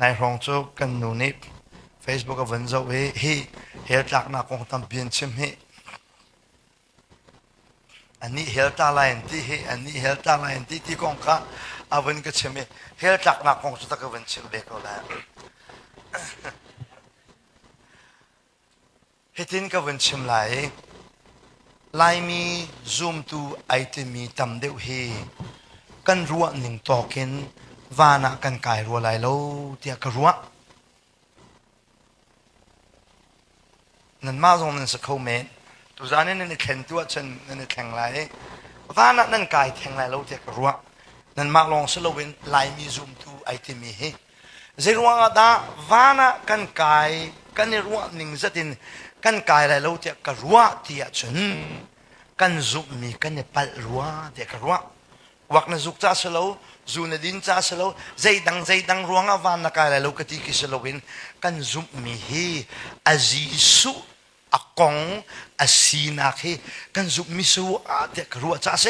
Nai hrawng cu kan nu nih Facebook a vun zoh i hi hell tlaknak kong tampi an chim hih. An nih hell ta lai an ti hi, an nih hell ta lai an ti ti kong kha a vun ka chim i hell tlaknak kong cu ta ka vun chim ve ko lai. Hitin ka vun chim lai, Laimi zumtu ai timi tam deuh hi kan ruahning tawk in van ah kan kai rua lai lo tiah ka ruah. Nanmah zong nan si kho men. Tuzan in nan i thlentu ahcun nan i thleng lai i van ah nan kai theng lai lo tiah ka ruah. Nanmah lawng si loin Laimi zumtu ai timi hi Zeiruangah dah van ah kan kai kan i ruah ning zetin kan kai lai lo tiah ka ruah ti ahcun kan zumhmi kan i palh rua tiah ka ruah. Kuak na zuk ca si lo, zu na din ca si lo, zeidang zeidang ruangah van na kai lai lo ka ti khi si loin kan zumhmi hi a Jesuh a kong a sinak hi kan zumhmi si uh tiah ka ruah ca a si.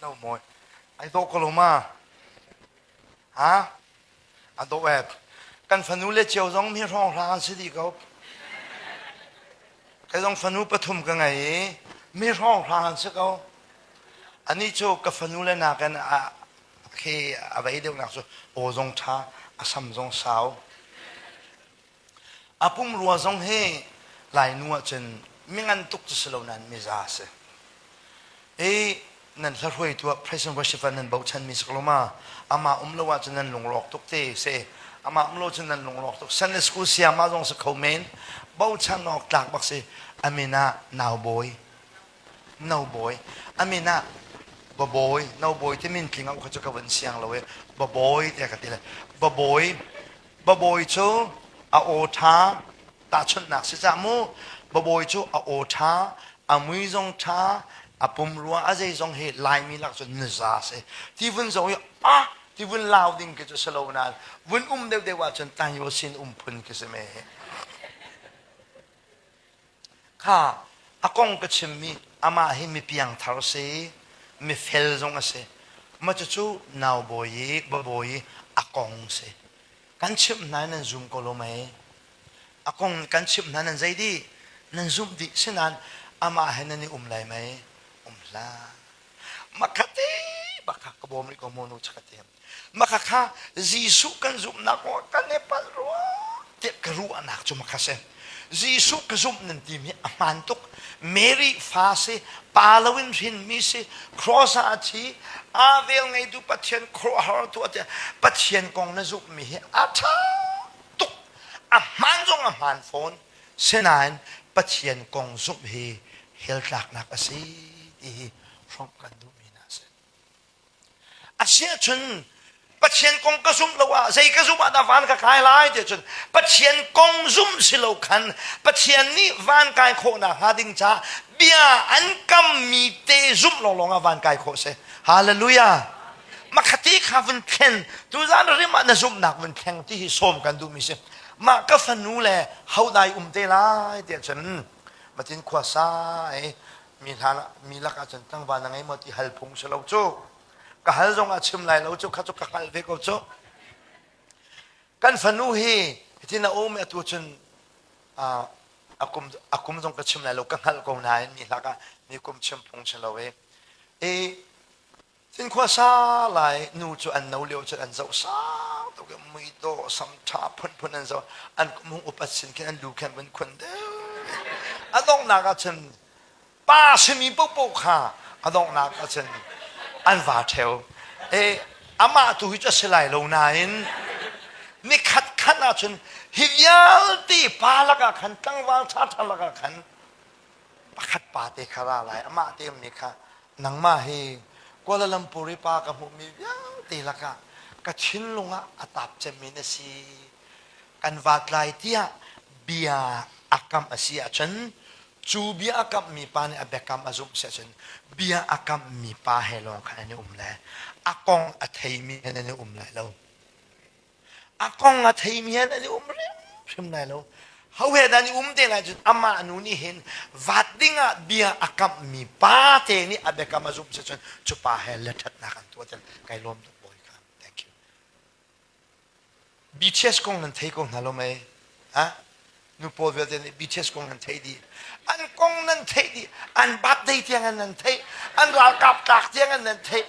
No mawi. Ai dawh ko lo ma? Ha? A dawh e. Kan fanu le cio zong mi hrawng hla an si dih ko. Kai zong fanu pathum ka ngei i mi hrawng hla an si ko. Anih cu ka fanu le nakin a khi a vei deuh nak cu aw zong ṭha, a sam zong sau. A pumrua zong hi Lainu ahcun mingan tuk cu si lo nain miza a si. I nan hlahruai tuah praise and worship ah nan bochanmi si ko lo ma, amah um lo ahcun nan lungrawk tuk te si. Amah um lo cun nan lungrawk tuk. Sunday school sayama zong si kho men. Bochan awk tlak bak si. Amin ah naubawi. Naubawi. Amin ah babawi. Naubawi ti min tling ah kha cu ka vun siang lo i babawi te ka ti le. Babawi Babawi cu a aw ṭha, tahchunhnak si cah mu, babawi cu a aw ṭha, a mui zong ṭha, a pumrua a zeizong hi Laimi lak cun nuza a si. Tivun zong hi ah tivun lau ding khi cu si lo nain vun um deuhdeuh ahcun tangyaw sin um phun khi si me hi. Kha a kong ka chimmi amah hi mipiangthar a si i mifel zong a si. Mah cucu naubawi i babawi i a kong si. Kan chimh hna in nan zum ko lo mei? A kong kan chimh hna nan zei dih? Nan zumh dih si nain amah he nan i um lai mei? Um hlah. Makhat i bakak ka bawm rih ko mu nu cakatiam. Maka kha Jesuh kan zumhnak aw kan i palh rua tiah ka ruahnak cu maka si. Jesuh ka zumh nan timi a hmaan tuk. Mary fa si, pa loin hrinmi si, cross ah a thi, aa velngeitu Pathian khuaruahhartu a tiah Pathian kong na zumhmi hi a ṭha tuk, a hmaan zong a hmaan fawn. Sinain Pathian kong zumh hi hell tlaknak a si ti hi hrawmh kan duhmi hna a si. Asiah cun Pathian kong ka zumh lo ah zei ka zumh ah dah van ka kai lai ti cun Pathian kong zumh si lo khan Pathian nih van kai khawh nak hnga ding caah bia an kammi te zumh lawnglawng ah van kai khawh si. Hallelujah. Makhati kha vun thlen tuzan rim ah na zumhnak vun thleng ti hi sawm kan duhmi si. Mah ka fanu le hau dai um te lai ti cun Matin khua sa ai mi hna mi lakah cun tlangval na ngei maw ti hal phung si lo cu ka hal zong ah chim lai lo cu kha cu ka hngalh ve ko cu kan fanu hi hitin a um atu cun a kum a kum zong ka chim lai lo ka hngalh ko nain mi hlak ah mi kum chim phung si lo e Cinkhua sa lai nu cu an no lio cun an zoh sang tuk i mui dawh sam ṭha phunphun an zoh an kumhung upat sin khin an lu khan vun khun deuh a donghnak ah cun pa simi paohpaoh kha a donghnak ah cun an va ṭheo e amah tu hi cu a si lai lo nain ni khat khat ah cun hi vialte pa lakah khan tlangval ṭha ṭha lakah khan pakhat pa te kha ra lai, amah te ummi kha, nangmah hi Kuala Lumpur i pa ka hmuhmi vialte lakah ka thinlung ah a tap cemmi na si, kan vatlai tiah bia a kamh a si ahcun, cu bia a kamhmi pa nih a biakam a zumh si ahcun, bia a kamhmi pa he lawng khan an i um lai, a kong a theimi he nan i um lai lo. a kong a theimi hen an i um hrim lai lo hauhe dan i um te lai cun amah nu nih hin vat ding ah bia a kamhmi pa te nih a biakam a zumh si cun cu pa he lethatnak an tuah cun kai lawm tuk bawi kha thank you BTS kong nan thei ko hna lo mai ha nu paul vialte nih BTS kong nan thei dih an kong nan theih dih an birthday tiang an nan theih an ralkap tlak tiang an nan theih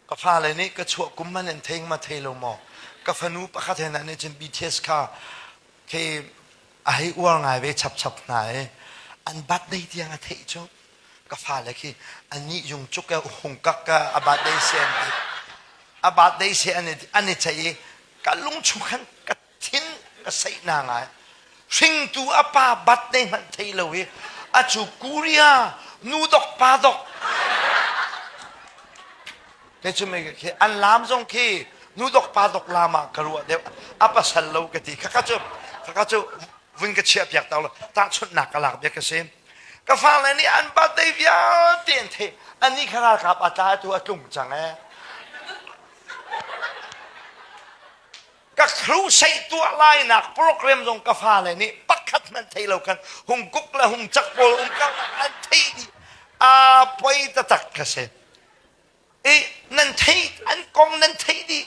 Ka fale nih ka chuah kum hmanh in thei ma thei lo maw? Ka fanu pakhat he nih cun BTS kha khi a hei uar ngai ve chapchap hna i an birthday tiang a theih cu ka fale khi ani yung cuk e hung kak ka a birthday se an ti a birthday se an i an i ceih i ka lungchung khan ka thin ka seih na ngai hringtu a pa bat nei hmanh thei lo i a cu kuria nu dok pa dok te cu me khi an lam zong khi nu dok pa dok lam ah ka ruah deuh a pasal lo ka ti khaka cu khaka cu vun ka chia piak tau lo tahchunhnak ka lak bia ka si ka fa le nih an bat dei vialte an thei an ni kha ralkap a tla tu a tlung cang ee ka hrusei tuah lainak program zong ka fale nih pakhat hmanh thei lo khan hung kuk le hung cak pawl um ka an thei dih a poi taktak ka si i nan thei an kong nan thei dih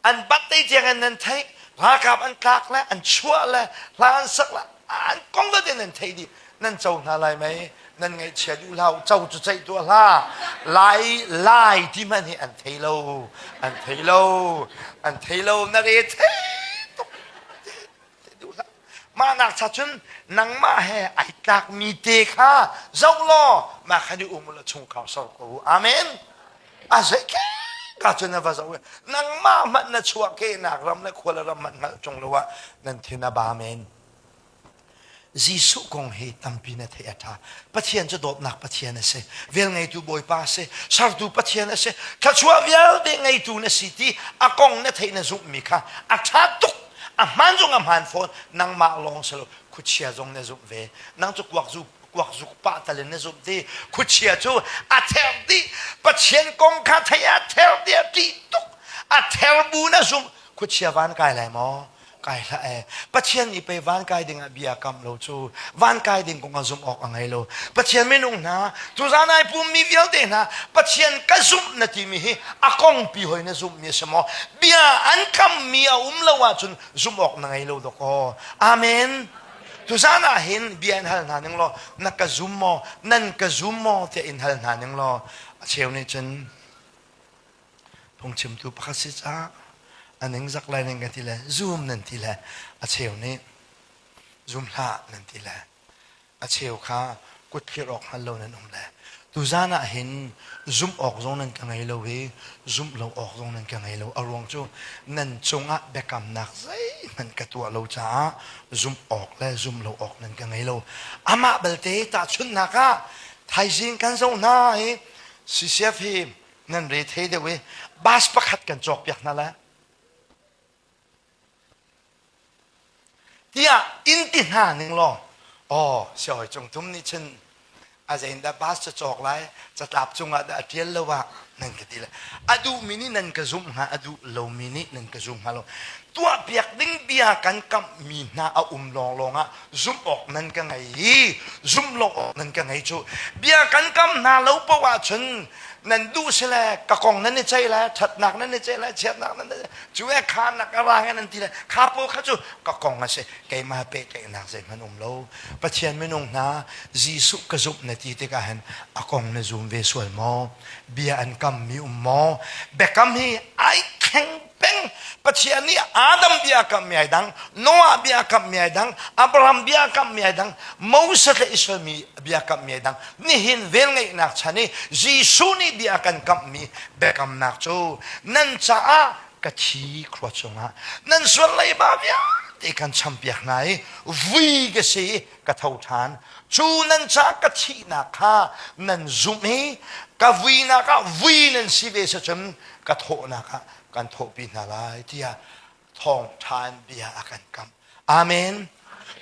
an batte tiangin nan thei ralkap an tlak le an chuah le hla an sak le an kong dot in nan thei dih nan co hna lai mei nan ngaihchia duh hlah co cu ceih tuah hlah lai lai ti hmanh hi an thei lo an thei lo an thei lo na re thei tuk duh hlah mah nak cha cun nangmah he ai tlak mi te kha zoh law mah kha ni um la chung khau so ko amen a zei ke ka cun na va zo nangmah hmanh na chuah ke nak ram le khuala ram hmanh hngalh chung lo ah nan thin a ba men Jesuh kong hi tampi na theih a ṭha. Pathian cu dawtnak Pathian a si, velngeitu Bawipa a si, sertu Pathian a si, thluachuah vialte ngeitu na si ti a kong na theih na zumhmi kha a ṭha tuk. A hmaan zong a hmaan fawn, nangmah lawng si lo, khuachia zong na zumh ve. Nang cu kuakzuk pah tal in na zumh ti, khuachia cu a ther dih. Pathian kong kha theih a ther dih, a ṭih tuk, a ther bu na zumh, khuachia van kai lai maw? Kai hlah e. Pathian nih pei van kai ding ah bia a kamh lo cu. Van kai ding kong a zumh awk a ngei lo. Pathian minung hna, tuzaan ai pummi vialte hna, Pathian ka zumh na timi hi a kongpi hoi na zumhmi a si maw? Bia an kammi a um lo ahcun zumh awk na ngei lo dawk aw. Amen. Tuzaan ah hin bia in hal hna ning law, na ka zum maw? Nan ka zum maw? tiah in hal hna ning law, a cheu nih cun, Phungchimtu pakhat si caah a ningzak lai nan kan ti le zoom nan ti le a cheu nih zoom hlah nan ti le a cheu kha kut phir awk hngal lo nan um le tuzan ah hin zumh awk zong nan ka ngei lo i zumh lo awk zong nan ka ngei lo a ruang cu nan cungah biakamnak zeihmanh ka tuah lo caah zumh awk le zumh lo awk nan ka ngei lo amah belte tahchunhnak ah thaizing kan zoh hna i CCF hi nan re thei deuh i bus pakhat kan cawkpiak hna lai tiah in ti hna ning law aw siawi cung thum nih cun a zeindah bus ca cawk lai catlap cungah dah a ṭial lo ah nan ka ti le a duhmi nih nan ka zumh hnga a duh lomi nih nan ka zum hnga lo tuahpiak ding bia kan kamhmi hna a um lawnglawng ah zumh awk nan ka ngei i zumh lo awk nan ka ngei cu bia kan kam hna lo poh ahcun nan duh si le ka kong nan i ceih le ṭhatnak nan i ceih le chiatnak nan i cu e kha nak a rang e nan ti le kha po kha cu ka kong a si keimah pehtlaihnak zeihmanh um lo Pathian minung hna Jesuh ka zumh na ti tikah hin a kong na zum ve sual maw bia an kam mi um maw biakam hi ai thleng peng Pathian nih Adam bia kam mi dang Noah bia kam mi dang Abraham bia kam mi dang Moses le Israel mi bia kam mi dang nihin velngeihnak chan i Jesuh nih bia kan kamh mi biakamnak cu nan caah ka thi khua chungah nan sual leiba vialte kan champiak hna i vui ka si i ka tho ṭhan. Cu nan ca ka thihnak kha nan zumh i ka vuinak ah vui nan si ve sa cun ka thawhnak ah kan thawhpi hna lai tiah thawngṭhan bia a kan kamh. Amen!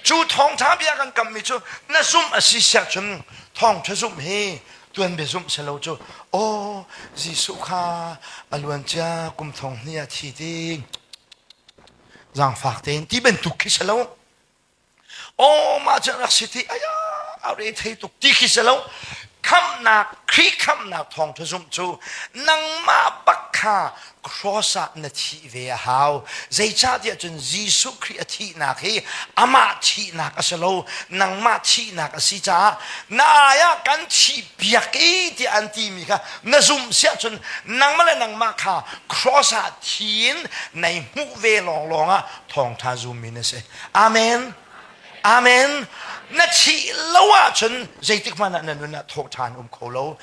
Cu thawngṭha bia a kan kamhmi cu na zumh a si siah cun thawngṭha zumh hi tuanbia zumh si lo cu aw Jesuh kha a luancia kum thong hnih ah thi ding, zaangfak tein ti bantuk khi si lo. aw mah cu rak si ti aya a re thei tuk ti khi se lo khamnak khri khamnak thawng thu zumh cu nangmah bak kha cross ah na thih ve a hau zeicahtiah cun Jesuh Khrih a thihnak hi amah thihnak a si lo nangmah thihnak a si caah na ai ah kan thih piak i tiah an timi kha na zumh siah cun nangmah le nangmah kha cross ah thi in nei hmuh ve lawnglawng ah thawngtha zum in a si amen amen na thih lo ahcun zeitik hmanh ah na nun ah thawh ṭhan um kho lo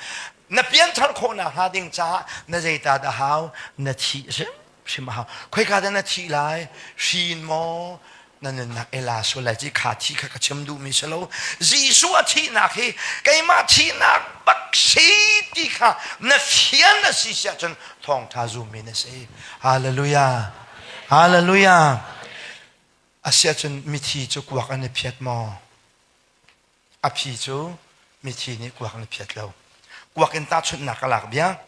na pianthar khawh nak hnga ding caah na zeitat a hau na thih a si hrim a hau khoika dah na thih lai hrin maw na nunnak ela so lai ci kha thi kha ka chim duh mi si lo Jesuh a thihnak hi keimah thihnak bak si ti kha na fian a si si ahcun thawngtha zum in a si hallelujah Hallelujah! Asiahcun mithi cu kuak an i phiat maw? A phi cu mithi nih kuak an i phiat lo. Kuak in tahchunhnak ka lak bia.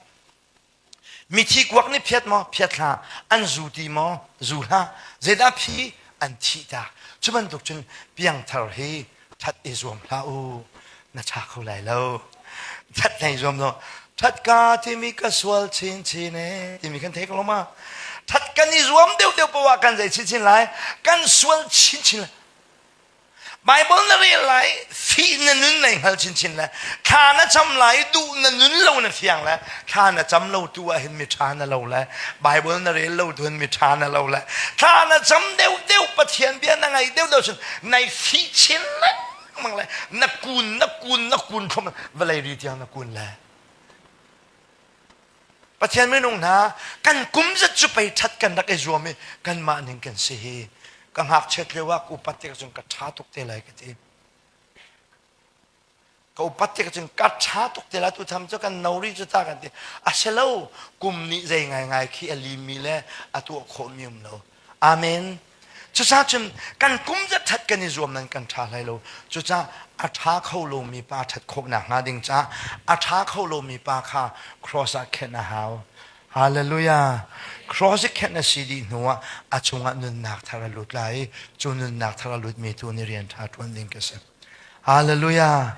Mithi kuak nih phiat maw? Phiat hlah. An zu ti maw? Zu hlah. Zeidah phi? An thih ta. Cu bantuk cun piangthar hi that i zuam hlah u, na tha kho lai lo. That hlei zuam lo. Thatka timi ka sual chinchin e timi kan thei ko lo ma. That kan i zuam deuh deuh poah kan zei chinchin lai. Kan sual chinchin lai. Bible na rel lai, fi na nun nei hngal chinchin le, thla na cam lai, duh na nun lo na fiang le, thla na cam lo tu ah hin miṭha na lo le Bible na rel lo tu hin miṭha na lo le thla na cam deuh deuh Pathian bia na ngai deuh deuh cun nai si chin lengmang le na kun na kun na kun khom vawlei ri tiang na kun le Pathian minung hna kan kum zat cu pei ṭhat kan rak i zuam i kanmah ning kan si hi ka ngakchiat lio ah upat tik cun ka ṭha tuk te lai ka ti Ka upat ti ka cun ka ṭha tuk te la tu tham cu kan no rih cu ta kan ti a si lo kum nih zei ngaingai khi a limi le a tuah khawhmi um lo amen cucaah cun kan kum zat ṭhat kan i zuam nan kan ṭha hlei lo cucaah a ṭha kho lomi pa ṭhat khawh nakhnga ding caah a ṭha kho lomi pa kha cross ah khenh a hau Hallelujah. Cross i khenh a si dih hnuah a chungah nunnak thar a lut lai i cu nunnak thar a lutmi tu nih rian ṭha ṭuan ding ka si. Hallelujah.